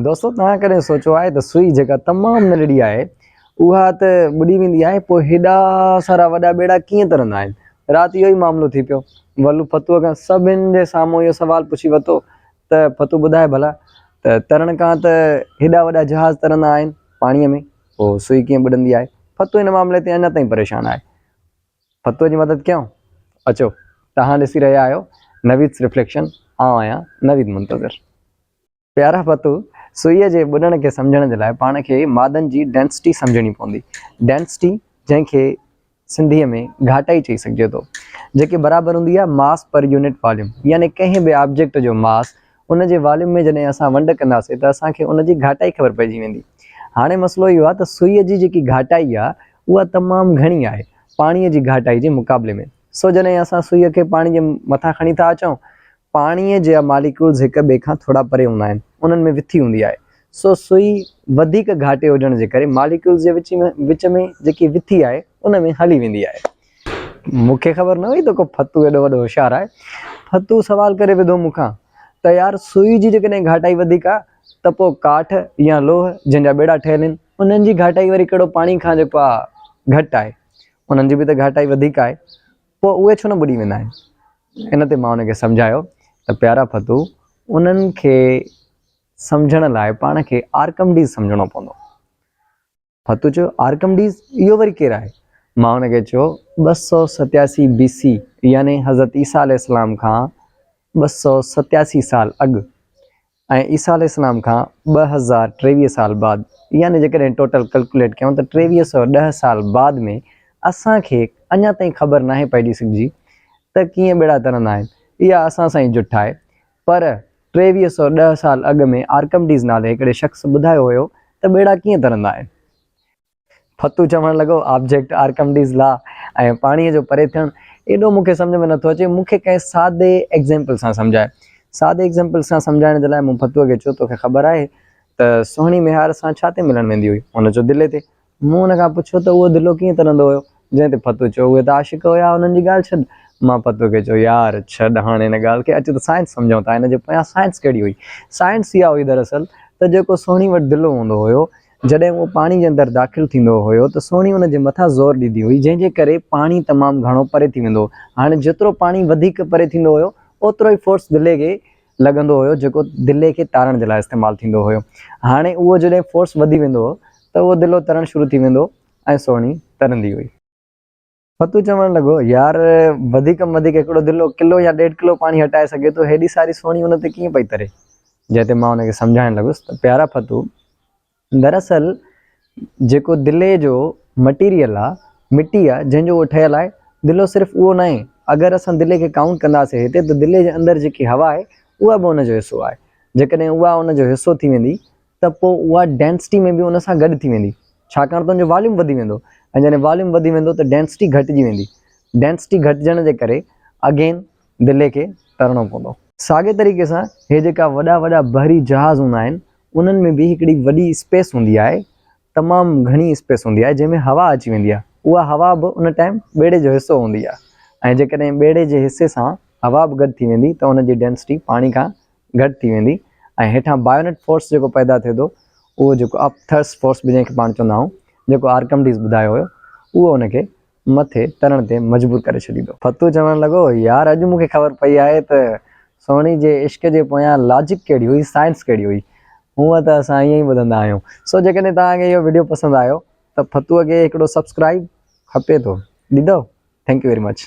دوستو توهان ڪڏهن سوچيو آهي ته سوئي جيڪا تمام ننڍڙي آهي اها ته ٻڏي ويندي آهي پوء هيڏا سارا وڏا ٻيڙا ڪيئن ترندا آهن رات اهو ئي معاملو ٿي پيو ولو ڦتوء کان سڀن جي سامهون اهو سوال پڇي ورتو ته ڦتو ٻڌاء ڀلا ته ترڻ کان ته هيڏا وڏا جهاز ترندا آهن پاڻيء ۾ پوء سوئي ڪيئن ٻڏندي آهي ڦتو هن معاملي تي اڃا تائين پريشان آهي ڦتوء جي مدد ڪيائون اچو توهان ڏسي رهيا آهيو نويدس رفليڪشن آئون آهيان نويد منتظر پيارا پتو، سوئيء جي ٻڏڻ کي سمجهڻ جي لاء پاڻ کي مادن جي ڊينسٽي سمجهڻي پوندي. ڊينسٽي، جنهن کي سنڌيء ۾ گهاٽائي چئي سگهجي ٿو، جيڪي برابر هوندي آهي ماس پر يونٽ واليوم، يعني ڪنهن به آبجيڪٽ جو ماس، ان جي واليوم ۾ جڏهن اسان ونڊ ڪنداسين ته اسان کي ان جي گهاٽائي خبر پئجي ويندي. هاڻي مسئلو اهو آهي ته سوئيء جي جيڪي گهاٽائي آهي، اها تمام گهڻي آهي، پاڻيء جي گهاٽائي جي مقابلي ۾. سو جڏهن اسان سوئيء کي پاڻي جي مٿان کڻي ٿا اچون، پاڻيء جا ماليڪيولز هڪ ٻئي کان ٿورا پري هوندا آهن، انهن ۾ وٿي هوندي آهي، سو سوئي وڌيڪ گهاٽي هجڻ جي ڪري ماليڪيولز جي وچ ۾ وچ ۾ جيڪي وٿي آهي، ان ۾ هلي ويندي آهي. مون کي خبر نه هئي ته ڪو ڦتو ايڏو وڏو هوشيار آهي. ڦتو سوال ڪري وڌو مون کان ته يار سوئي جي جيڪڏهن گهاٽائي وڌيڪ آهي ته پوء ڪاٺ يا لوهه جنهن جا ٻيڙا ٺهيل آهن، انهن جي گهاٽائي وري ڪهڙو پاڻي کان جيڪو آهي گهٽ آهي. انهن جي به ته گهاٽائي وڌيڪ آهي، پوء اهي ڇو نه ٻڏي ويندا آهن؟ ان تي مان هن کي سمجهايو ته پيارا ڦتو، انهن کي سمجهڻ لاء پاڻ کي آرڪمڊيز سمجهڻو پوندو. ڦتو چيو، آرڪمڊيز؟ اهو وري ڪير آهي؟ مان هن کي چيو، ٻه سؤ ستياسي بي سي يعني حضرت عيسيٰ عليه السلام کان ٻه سؤ ستياسي سال اڳ ۽ عيسيٰ عليه السلام کان ٻه هزار ٽيويهه سال بعد يعني جيڪڏهن ٽوٽل ڪلڪوليٽ ڪيون ته ٽيويهه سؤ ڏهه سال بعد ۾ اسان کي اڃا تائين خبر ناهي پئجي سگهجي ته ڪيئن ٻيڙا ترندا آهن اها اسان سان ئي جٺ آهي پر ٽيويهه سؤ ڏهه سال اڳ ۾ آرڪمڊيز نالي هڪڙي شخص ٻڌايو هيو ته ٻيڙا ڪيئن ترندا آهن ڦتو چوڻ لڳو، آبجيڪٽ آرڪمڊيز لا ۽ پاڻيء جو پري ٿيڻ ايڏو مون کي سمجهه ۾ نٿو اچي، مون کي ڪنهن سادي ايگزيمپل سان سمجهاء. سادي ايگزيمپل سان سمجهائڻ جي لاء مون ڦتوء کي چيو، توکي خبر آهي ته سهڻي ميهار سان ڇا تي ملڻ ويندي هئي؟ هن چيو، دلي تي. مون هن کان پڇيو ته اهو دلو ڪيئن ترندو هيو؟ جنهن تي ڦتو چيو، اهي ته عاشق هيا، انهن جي ڳالهه ڇڏ. مان ڦتوء کي چيو، يار، ڇڏ هاڻ ان ڳالهه کي، اچ ته سائنس سمجهون ٿا. هن جي پويان سائنس ڪهڙي هئي؟ سائنس اها هئي دراصل ته جيڪو سهڻي وٽ دلو هوندو هيو، جڏهن اهو پاڻي جي اندر داخل ٿيندو هيو ته سوڻي ان جي مٿان زور ڏيندي هئي جنهن جي ڪري پاڻي تمام گهڻو پري ٿي ويندو هو هاڻي جيترو پاڻي وڌيڪ پري ٿيندو هيو اوترو ئي فورس دلي کي لڳندو هيو جيڪو دلي کي تارڻ جي لاء استعمال ٿيندو هيو هاڻي اهو جڏهن فورس وڌي ويندو هو ته اهو دلو ترڻ شروع ٿي ويندو هو ۽ سوڻي ترندي هئي. فتوح چوڻ لڳو، يار، وڌيڪ ۾ وڌيڪ هڪڙو دلو ڪلو يا ڏيڍ ڪلو پاڻي هٽائي سگهي ٿو، هيڏي ساري سوڻي ان تي ڪيئن پئي تري؟ جنهن تي مان ان کي سمجهائڻ لڳس ته پيارا فتوح، دراصل جيڪو دلي جو مٽيريل آ، مٽي آ، جنهن جو اهو ٺهيل آهي، دلو صرف اهو ناهي، اگر اسان دلي کي ڪائونٽ ڪنداسين هتي ته دلي جي اندر جيڪي هوا آهي، اها به ان جو حصو آهي، جيڪڏهن اها ان جو حصو ٿي ويندي ته پوء اها ڊينسٽي ۾ به ان سان گڏ ٿي ويندي ڇاڪاڻ ته ان جو واليوم وڌي ويندو ۽ جڏهن واليوم وڌي ويندو ته ڊينسٽي گهٽجي ويندي ڊينسٽي گهٽجڻ جي ڪري اگين دلي کي ترڻو پوندو. ساڳئي طريقي سان هي جيڪا وڏا وڏا بحري جهاز هوندا آهن انهن ۾ به هڪڙي وڏي اسپيس هوندي آهي تمام گهڻي اسپيس هوندي آهي جنهن ۾ هوا اچي ويندي آهي اها هوا به ان ٽائيم ٻيڙي جو حصو هوندي آهي ۽ جيڪڏهن ٻيڙي جي حصي سان هوا به گڏ ٿي ويندي ته ان جي ڊينسٽي پاڻي کان گهٽ ٿي ويندي ۽ هيٺان بايونٽ فورس جيڪو پيدا ٿئي ٿو اهو جيڪو اپ ٿرسٽ فورس به جنهن کي پاڻ چوندا آهيون جيڪو آرڪمڊيز ٻڌايو هيو اهو ان کي مٿي ترڻ تي مجبور ڪري ڇڏيندو. فتوح چوڻ لڳو، يار اڄ مون کي خبر پئي آهي ته سهڻي جي عشق جي پويان لاجڪ ڪهڙي هئي سائنس ڪهڙي هئي. هونء ته اسان ائين ئي ٻڌندا آهيون. سو جيڪڏهن توهان کي اهو وڊيو پسند آيو ته فتوح کي هڪڙو سبسڪرائيب کپي ٿو ڏيندؤ ٿينڪ يو ويري مچ.